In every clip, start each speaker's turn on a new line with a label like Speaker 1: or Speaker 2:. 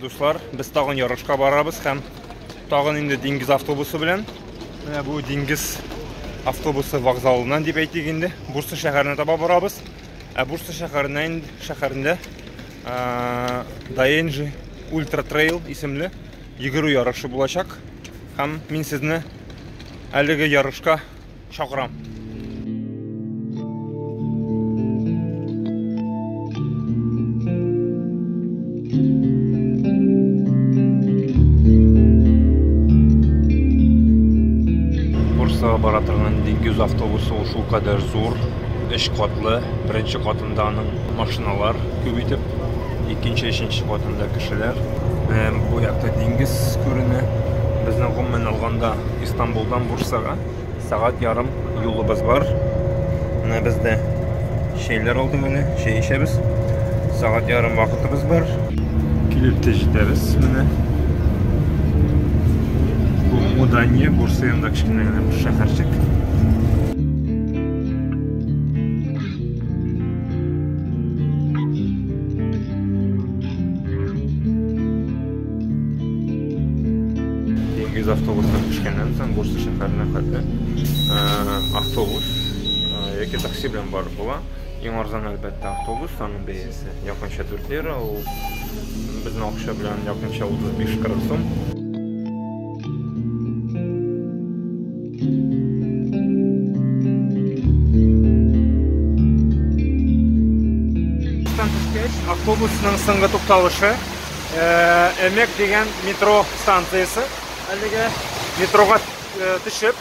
Speaker 1: дуслар, без тагын ярышка барабыз һәм тагын инде диңгез автобусы белән. Менә бу диңгез автобусы вокзалыннан дип әйтик инде, Бурса шәһәренә таба барабыз. Ә Бурса шәһәренә инде шәһәрендә Даенджи Ультра Трейл исемле йөгерү ярышы булачак. Һәм мин сезне әлеге ярышка чакырам. Бурсага бара торган диңгез автобусы ул шулкадәр зур, өч катлы, беренче катында аның Машиналар күп итеп, икенче, өченче катында кешеләр. Һәм бу якта диңгез күренә. Безнең гомумән алганда Истанбулдан Бурсага сәгать ярым юлыбыз бар. Менә без дә чәйләр алдык әле, чәй эчәбез. Сәгать ярым вакытыбыз бар. Килеп тә җитәбез менә. Бу Мудания, Бурса янында кечкенә генә бер шәһәрчек. Диңгез автобусына төшкәннән соң Бурса шәһәренә хәтле автобус яки такси белән барып була. Иң арзан әлбәттә автобус, аның бәясе якынча 4 лира, ул безнең акча белән якынча 35-40 сум. автобусның соңгы тукталышы Эмек дигән метро станциясе. Әлеге метроға төшеп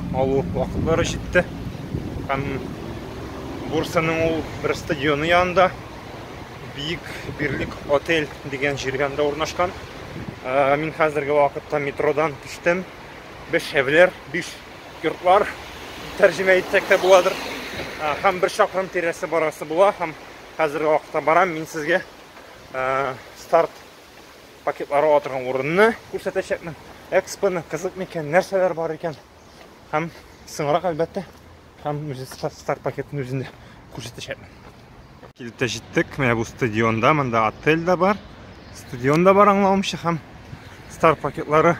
Speaker 1: алу вакытлары җитте. Һәм Бурсаның ул бер стадионы янында Бик Бирлек отель дигән җиргәндә урнашкан. Ә, мин хәзерге вакытта метродан төштем. Биш шәвләр, биш йортлар тәрҗемә итсәк тә буладыр. Ә, һәм бер чакрым тирәсе барасы була һәм хәзерге вакытта барам мин сезгә ә, старт пакетлар ала торган урынны күрсәтәчәкмен экспоны кызык микән нәрсәләр бар икән һәм соңрак әлбәттә һәм үзе старт пакетын үзендә күрсәтәчәкмен килеп тә җиттек менә бу стадионда монда отель дә бар стадион да бар аңлавымча һәм старт пакетлары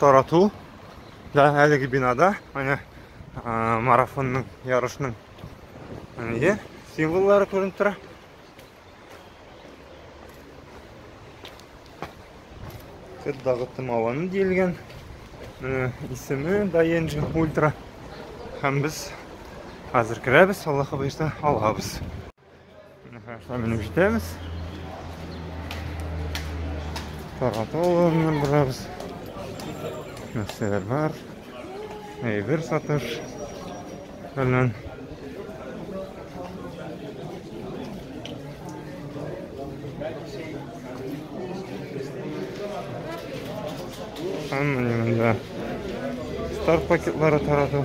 Speaker 1: тарату да әлеге бинада менә марафонның ярышның символлары күренеп тора Кыр дагытым аваны диелгән. Менә исеме Даенджи Ультра. Һәм без хәзер керәбез, Аллаһ хәбәрчә алабыз. Менә хәзер менеп җитәбез. Тарату алыннан барабыз. Нәрсәләр бар? Әйбер сатыш фәлән. Һәм менә монда стар пакетлары тарату.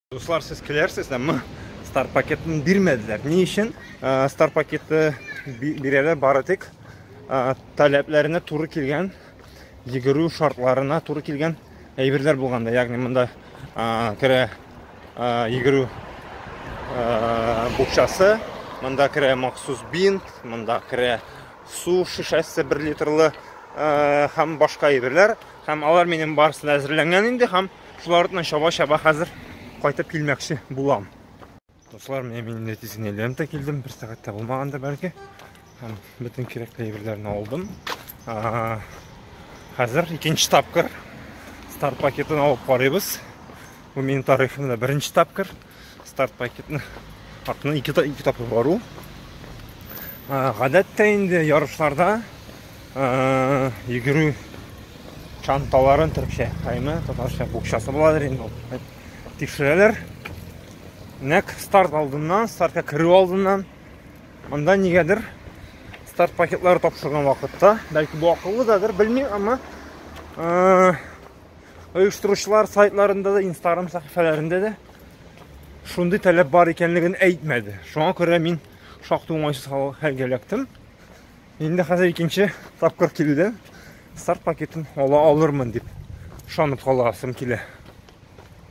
Speaker 1: Дуслар, сез көләрсез, әмма стар пакетын бирмәделәр. Ни өчен? Э, стар пакеты бирәләр бары тик э, таләпләренә туры килгән, йөгерү шартларына туры килгән әйберләр булганда, ягъни монда э, керә йөгерү букчасы, монда керә махсус бинт, монда керә су шешәсе 1 литрлы һәм башка әйберләр, һәм алар минем барысына әзерләнгән инде һәм Шулар артынан чаба-чаба хәзер кайтып килмәкче булам. Дуслар, менә мин инде тиз генә лента килдем, бер сәгатьтә булмаган да бәлки. Һәм бөтен кирәкле әйберләрне алдым. Хәзер икенче тапкыр старт пакетын алып карыйбыз. Бу минем тарихымда беренче тапкыр. Старт пакетны артына ике, ике тапкыр бару. Гадәттә инде ярышларда йөгерү чанталарын төркчә, кайме, татарча букчасы буладыр инде ул. Тикшерәләр. Нәк старт алдыннан, стартка керү алдыннан анда нигәдер старт пакетлары тапшырган вакытта, бәлки бу акыллыдадыр, белмим, әмма оештыручылар сайтларында да инстаграм сәхифәләрендә дә шундый таләп бар икәнлеген әйтмәде шуңа күрә мин шактый уңайсыз хәлгә эләктем инде хәзер икенче тапкыр килүдән старт пакетын ала алырмын дип ышанып каласым килә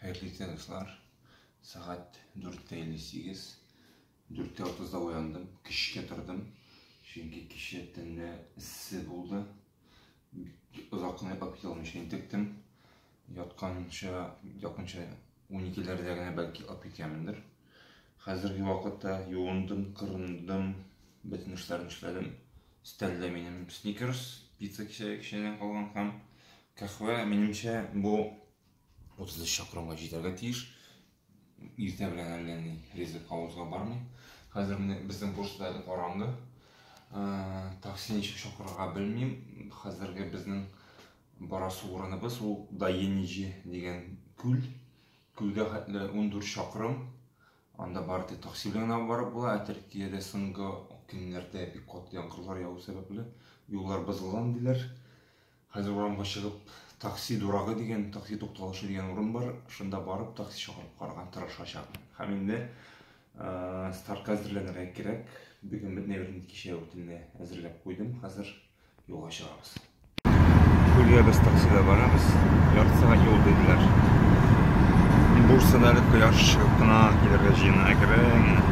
Speaker 2: Хәерле иртә, дуслар. Сәгать 4:58. 4:30-да уяндым, кичкә тордым. Чөнки кичә төнлә эссе булды. Озакны йоклап китә алмыйча интектем. Ятканча, якынча 12-ләрдә генә бәлки йоклап киткәнмендер. Хәзерге вакытта юындым, кырындым, бөтен эшләрне эшләдем. Стәллә минем сникерс, пицца кичәгеченнән калган һәм кахвә, минемчә, бу 30 чакрымга җитәргә тиеш. Иртә белән әллә ни ризык авызга бармый. Хәзер менә безнең почта әле караңгы. Такси ничек чакырырга белмим. Хәзерге безнең барасы урыныбыз ул Даеничи дигән күл. Күлгә хәтле ундүрт чакрым. Анда бары тик такси белән генә барып була, ә Төркиядә соңгы көннәрдә бик каты яңгырлар яву сәбәпле, юллар бозылган, диләр. Хәзер урамга чыгып, такси дурагы дигән, такси тукталышы дигән урын бар, шунда барып, такси чакырып карарга тырышачакмын. Һәм инде стартка әзерләнергә кирәк. Бүген бөтен әйберне кичә үтенле әзерләп куйдым, хәзер юлга чыгабыз.
Speaker 1: Күлгә без таксида барабыз. Ярты сәгать юл диделәр. Бурсада әле кояш чыгып кына килергә җыена әкрен генә.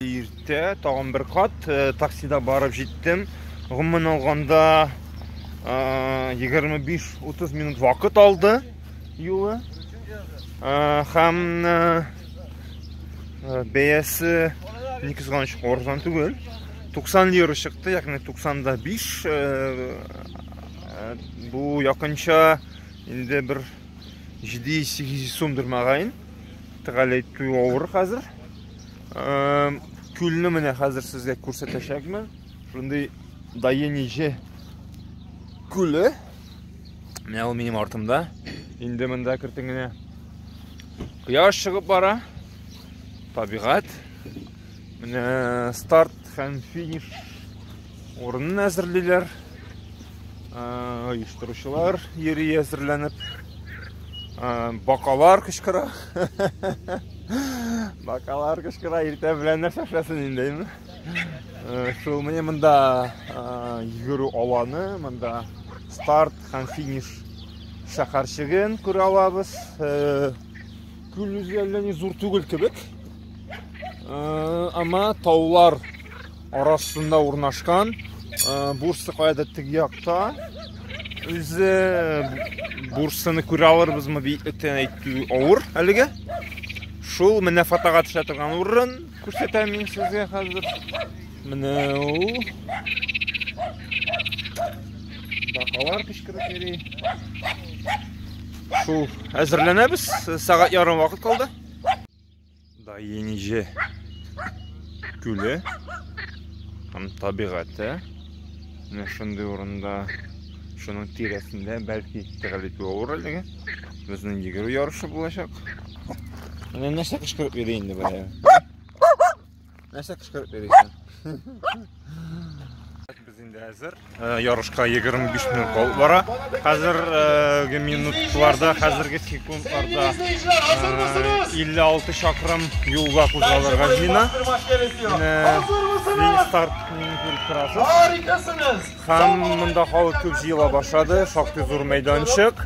Speaker 1: Иртә тагын бер кат э, таксида барып җиттем. Гомумән алганда 25-30 минут вакыт алды юлы. Һәм Бәясе ни кызганыч арзан түгел. 90 лира чыкты, ягъни 90да 5. Бу якынча инде бер 700-800 сумдыр мәгәен. Тәгалә итү авыр хәзер. Күлне менә хәзер сезгә күрсәтәчәкмен. Шундый Даениҗе күле. Менә ул минем артымда. Инде монда кертенгенә Кояш чыгып бара. Табигать. Менә старт һәм финиш урынын әзерлиләр. Оештыручылар йөри әзерләнеп. Бакалар кычкыра. Бакалар кычкыра иртә белән нәрсә эшләсен индеме? Шул менә монда йөгерү аланы, монда старт Һәм финиш шәһәрчеген күрә алабыз. Күл үзе әллә ни зур түгел кебек. Ама таулар арасында урнашкан. Бурсы каяда тиг якта. Үзе бурсыны күрә алырбызмы бит өтен әйтү авыр әлегә. Шул менә фотога төшә торган урын күрсәтәм мин сезгә хәзер. Менә ул. Бакалар кычкырып йөри. Шул әзерләнәбез. Сәгать ярым вакыт калды. Да Енеже күле һәм табигате. Менә шундый урында шуның тирәсендә бәлки тәгәл итү авыр әлеге. Безнең йөгерү ярышы булачак. Менә нәрсә кычкырып йөри инде бая. Нәрсә кычкырып йөрисең? Без инде әзер. Э, ярышка 25 минут калып бара. Хәзерге э, минутларда, хәзерге секундларда 56 э, чакрым юлга кузгалырга җыена. Менә старт
Speaker 3: Һәм
Speaker 1: монда халык күп җыела башлады, шактый зур мәйданчык.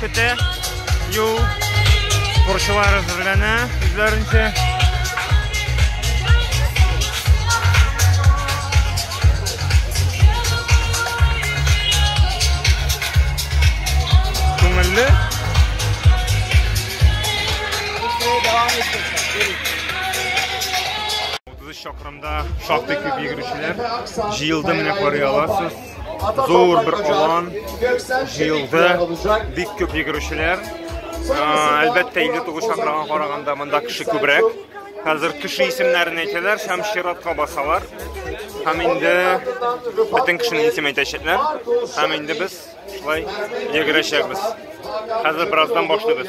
Speaker 1: көтә. Юл спортчылар әзерләнә үзләренчә. Күңелле. Утыз чакрымда шактый күп йөгерүчеләр җыелды, менә карый аласыз. зур бер алан җыелды, бик күп йөгерүчеләр. Әлбәттә, 59 чакрага караганда монда кеше күбрәк. Хәзер кеше исемнәрен әйтәләр һәм чиратка басалар. Һәм инде бөтен кешене исем әйтәчәкләр. Һәм инде без шулай йөгерәчәкбез. Хәзер бераздан башлыйбыз.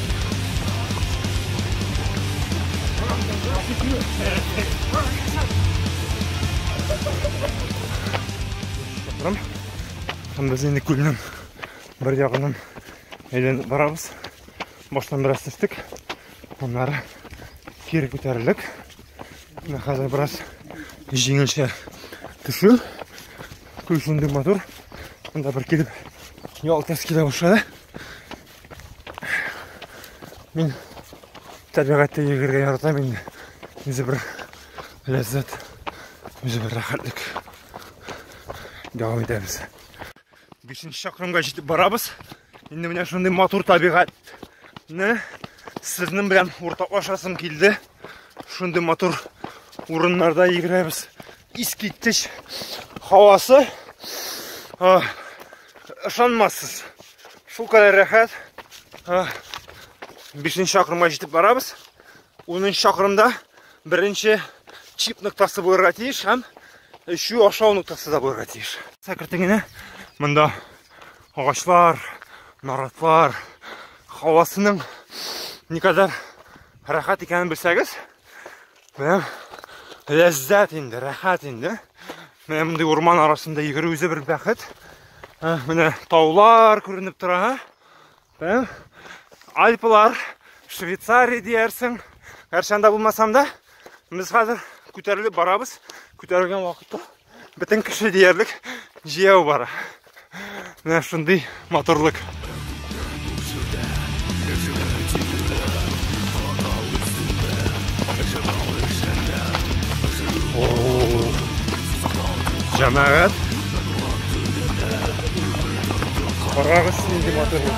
Speaker 1: Рам, һәм без инде күлнең бер ягынан әйләнеп барабыз. Баштан бераз төстек, аннары кире күтәрелдек. Менә хәзер бераз җиңелчә төшү. Күл шундый матур. Монда бер килеп ял тәскилә башлады. Мин табигатьтә йөгергә яратам инде. Үзе бер ләззәт, үзе бер рәхәтлек. Дәвам итәбез. Бишенче чакрымга җитеп барабыз. Инде менә шундый матур табигатьне сезнең белән уртаклашасым килде. Шундый матур урыннарда йөгерәбез. Искиткеч һавасы. Ышанмассыз. Шул кадәр рәхәт. 5 чакрымга җитеп барабыз. 10 чакрымда беренче чип ноктасы булырга тиеш һәм эчү ашау ноктасы да булырга тиеш. Сәкертегенә монда агачлар, наратлар, һавасының никадәр рәхәт икәнен белсәгез, Менә ләззәт инде, рәхәт инде. Менә мондый урман арасында йөгерү үзе бер бәхет. Менә таулар күренеп тора. Ә? Альпылар, Швейцария диярсең. Гәрчә анда булмасам да, без хәзер күтәрелеп барабыз. Күтәрелгән вакытта Бөтен кеше диярлек җияү бара. Менә шундый матурлык. Җәмәгать. Карагыз нинди матурлык.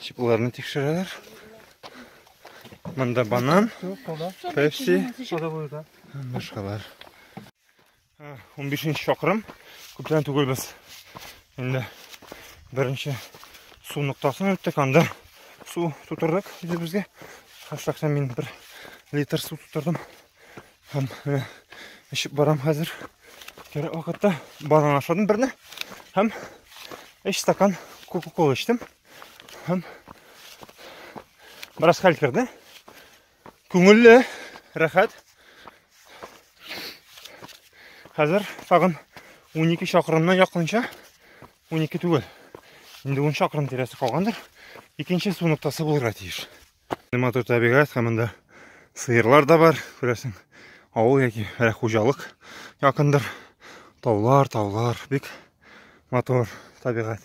Speaker 1: Чипларны тикшерәләр. Монда банан, пепси, башкалар. 15 чакрым күптән түгел без инде беренче су ноктасын үттек анда су тутырдык үзебезгә шәхсән мин бер литр су тутырдым Һәм менә эчеп барам хәзер. Кирәк вакытта банан ашадым берне һәм өч стакан кока-кола эчтем. Һәм бераз хәл керде. Күңелле, рәхәт. Хәзер тагын 12 чакрымнан якынча 12 түгел. Инде 10 чакрым тирәсе калгандыр. Икенче су ноктасы булырга тиеш. Матур табигать һәм монда сыерлар да бар, күрәсең. Авыл яки әле хуҗалык якындыр. Таулар, таулар, бик матур табигать.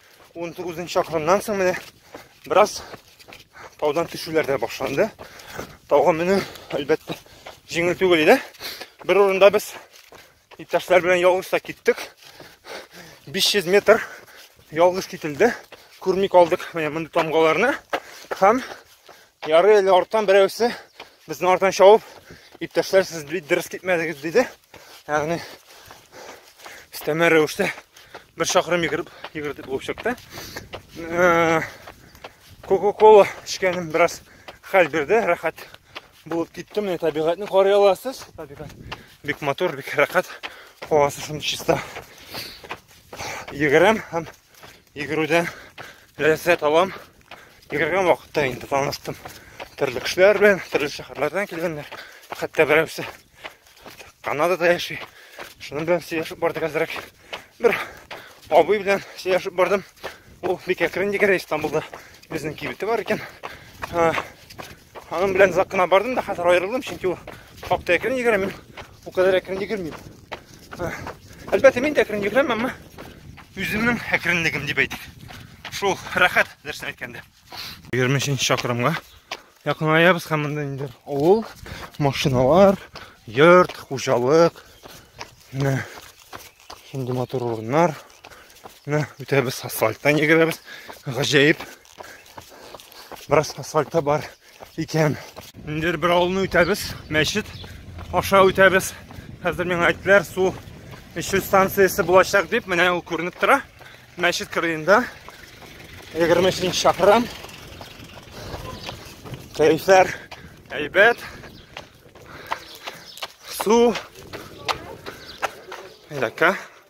Speaker 1: 19 нчы чакрымнан соң менә бераз таудан төшүләр дә башланды. Тауга менү әлбәттә җиңел түгел иде. Бер урында без иптәшләр белән ялгыз та киттек. 500 метр ялгыз кителде. Күрми калдык менә мондый тамгаларны. Һәм ярый әле арттан берәүсе Безне артан чавып, иптәшләр сез бит дөрес китмәдегез диде. Ягъни өстәмә рәвештә бер чакрым йөгереп йөгердек булып чыкты. Э, Кока-кола эчкәнем бераз хәл бирде, рәхәт булып киттем. Менә табигатьне карый аласыз. Табигать бик матур, бик рәхәт. Һавасы шундый чиста. Йөгерәм һәм йөгерүдән ләззәт алам. Йөгергән вакытта инде таныштым. Төрле кешеләр белән, төрле шәһәрләрдән килгәннәр. Хәтта берәүсе Канадада яши. Шуның белән сөйләшеп бардык әзрәк. Бер абый белән сөйләшеп бардым. Ул бик әкрен йөгерә Истанбулда. Безнең кибете бар икән. Аның белән озак кына бардым да, хәзер аерылдым, чөнки ул хакта әкрен йөгерә, мин бу кадәр әкрен йөгермим. Әлбәттә, мин дә әкрен йөгерәм, әмма үземнең әкренлегем дип әйтик. Шул рәхәт дөресен әйткәндә. 23 чакрымга якынаябыз һәм монда инде авыл, машиналар, йорт, хуҗалык, менә шундый матур урыннар. Менә үтәбез асфальттан йөгерәбез. Гаҗәеп Бераз асфальта бар икән. Инде бер авылны үтәбез, мәчет аша үтәбез. Хәзер миңа әйттеләр, су эчү станциясе булачак дип, менә ул күренеп тора. Мәчет кырыенда 23 шәһрам. Кәйфәр әйбәт. Су. Әйдәкә.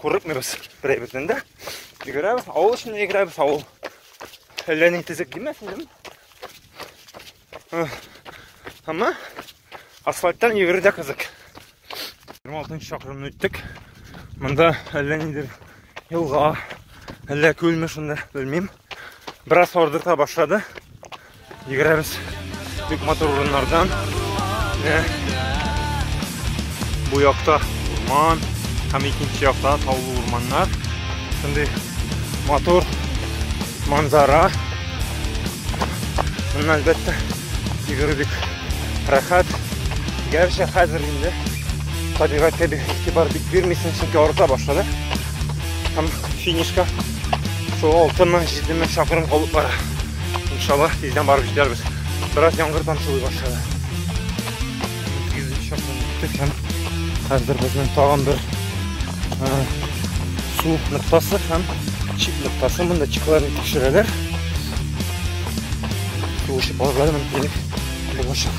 Speaker 1: Курыкмыйбыз берәй бертен дә. Йөгерәбез, авыл эченә йөгерәбез, авыл. Әллә ни тезек кимәсен, дим. Әмма асфальттан йөгерү дә кызык. 26 чакрымны үттек. Монда әллә нидер елга, әллә күлме шунда, белмим. Бераз ардырта башлады. Йөгерәбез бик матур урыннардан. Бу якта урман, һәм икенче якта таулы урманнар. Шундый матур манзара. Моннан әлбәттә йөгерү бик рәхәт. Гәрчә хәзер инде табигатькә бик игътибар бик бирмисең, чөнки арыта башлады. Һәм финишка шул 6 мең, 7 мең чакрым калып бара. Иншалла, тиздән барып җитәрбез. Бераз яңгыр тамчылый башлады. Һәм хәзер безнең тагын бер су ноктасы һәм чик ноктасы. Монда чикларны тикшерәләр. Туышып алырга мөмкинлек булачак.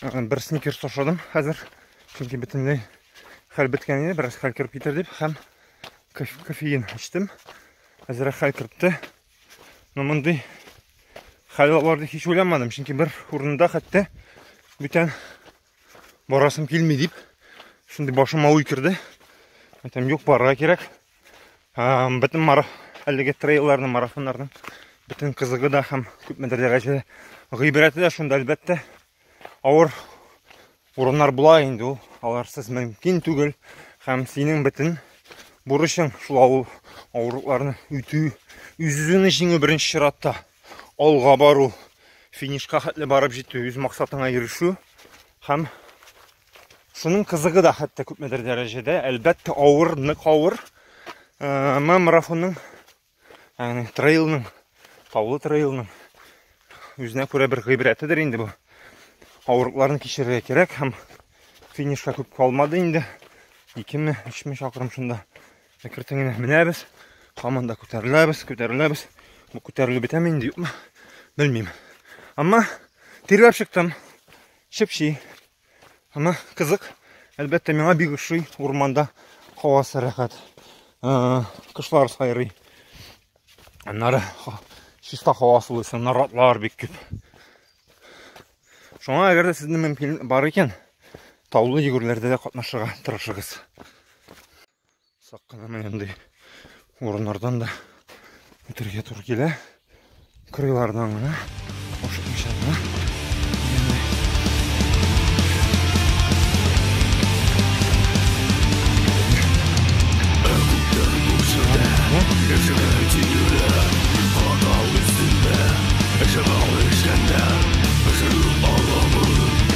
Speaker 1: Бер сникерс ашадым хәзер, чөнки бөтенләй хәл беткән иде, бераз хәл кереп китер дип, һәм кофеин эчтем. Әзрәк хәл кертте. Но мондый хәл алар дип һич уйламадым, чөнки бер урында хәтта бүтән барасым килми дип, шундый башыма уй керде. Әйтәм, юк, барырга кирәк. бөтен мара әлеге трейлерның марафоннарның бөтен кызыгы да һәм күпмедер дәрәҗәдә гыйбрәте дә шунда әлбәттә авыр урыннар була инде ул аларсыз мөмкин түгел һәм синең бөтен бурычың шул авыр авырлыкларны үтү үз үзеңне җиңү беренче чиратта алга бару финишка хәтле барып җитү үз максатыңа ирешү һәм Шуның кызыгы да хәтта күпмедер дәрәҗәдә, әлбәттә, авыр, нык авыр. Әмма марафонның, ягъни трейлның, таулы трейлның үзенә күрә бер гыйбрәтедер инде бу. Авырлыкларны кичерергә кирәк һәм финишка күп калмады инде. 2-ме, 3-ме чакрым шунда әкертен генә менәбез. Һаман да күтәреләбез, күтәреләбез. Бу күтәрелү бетәме инде, юкмы? Белмим. Әмма тирләп чыктым. Чепчи. Аны кызык. Әлбәттә, миңа бик ошый. Урманда һавасы рәхәт. Кышлар сайрый. Аннары чиста һава сулыйсы, наратлар бик күп. Шуңа әгәр дә сезнең мөмкин бар икән, таулы йөгерләрдә дә катнашырга тырышыгыз. Сак кына менендей урыннардан да үтергә туры килә. Кырыйлардан гына ашыкмыйча гына.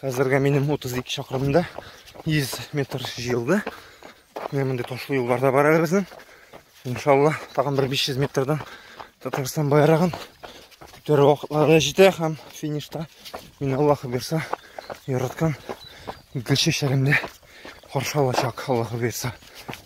Speaker 1: Хәзергә минем 32 чакрымда 100 метр җыелды. Менә мондый ташлы юлларда бар әле безнең. Иншалла, тагын бер 500 метрдан Татарстан байрагын күтәрү вакытлары да җитә һәм финишта мин Аллаһ бирса яраткан гүл чәчәремне каршы алачак Аллаһ бирса.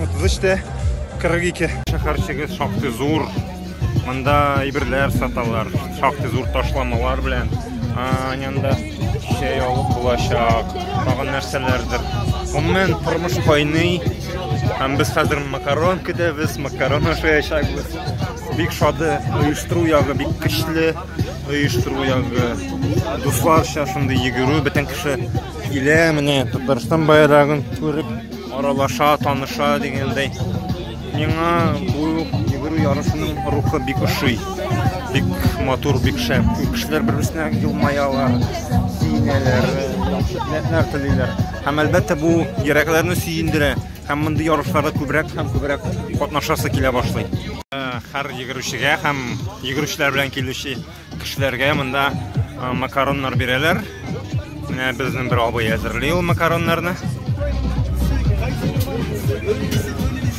Speaker 1: 33 те 42 шәһәрчеге шактый зур монда әйберләр саталар шактый зур ташламалар белән янында чәй алып булачак тагын нәрсәләрдер гомумән тормыш кайный һәм без хәзер макарон көтәбез макарон ашаячакбыз бик шады оештыру ягы бик көчле оештыру ягы дусларча шундый йөгерү бөтен кеше Килә менә Татарстан байрагын күреп, аралаша, таныша дигәндәй. Миңа бу йөгерү ярышының рухы бик ошый. Бик матур, бик шәп. Кешеләр бер-берсенә елмаялар, сөенәләр, яхшы теләкләр телиләр. Һәм әлбәттә бу йөрәкләрне сөендерә. Һәм мондый ярышларда күбрәк һәм күбрәк катнашасы килә башлый. Һәр йөгерүчегә һәм йөгерүчеләр белән килүче Кешеләргә монда макароннар бирәләр. Менә безнең бер абый әзерли ул макароннарны.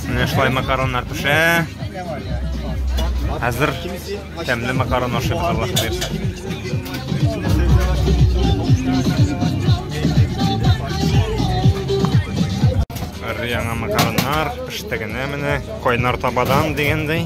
Speaker 1: Менә шулай макароннар пешә. Хәзер тәмле макарон ашыйбыз Аллаһ бирсә. Яңа макароннар пеште генә менә кайнар табадан дигәндәй.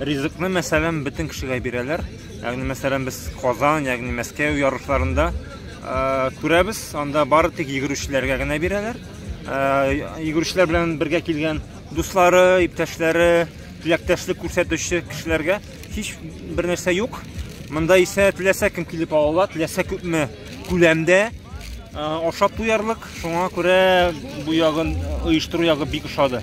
Speaker 1: Ризыкны, мәсәлән, бөтен кешегә бирәләр. Ягъни, мәсәлән, без Казан, ягъни Мәскәү ярышларында э, күрәбез, анда бары тик йөгерүчеләргә генә бирәләр. Э, йөгерүчеләр белән бергә килгән дуслары, иптәшләре, теләктәшлек күрсәтүче кешеләргә һич бер нәрсә юк. Монда исә теләсә кем килеп ала, теләсә күпме күләмдә э, ашап туярлык. Шуңа күрә бу ягын оештыру ягы бик ошады.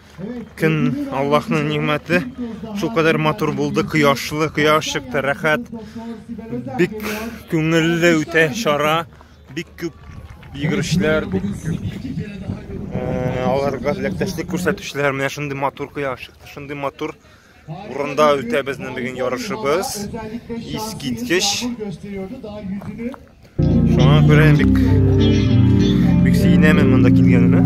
Speaker 1: Көн Аллаһның нигъмәте. Шул кадәр матур булды, кояшлы, кояш чыкты, рәхәт. Бик күңелле үтә чара. Бик күп йөгерешләр, бик күп аларга теләктәшлек күрсәтүчеләр. Менә шундый матур кояш чыкты, шундый матур Урында үтә безнең бүген ярышыбыз. Искиткеч. Шуңа күрә бик бик сөенәмен монда килгәнемә.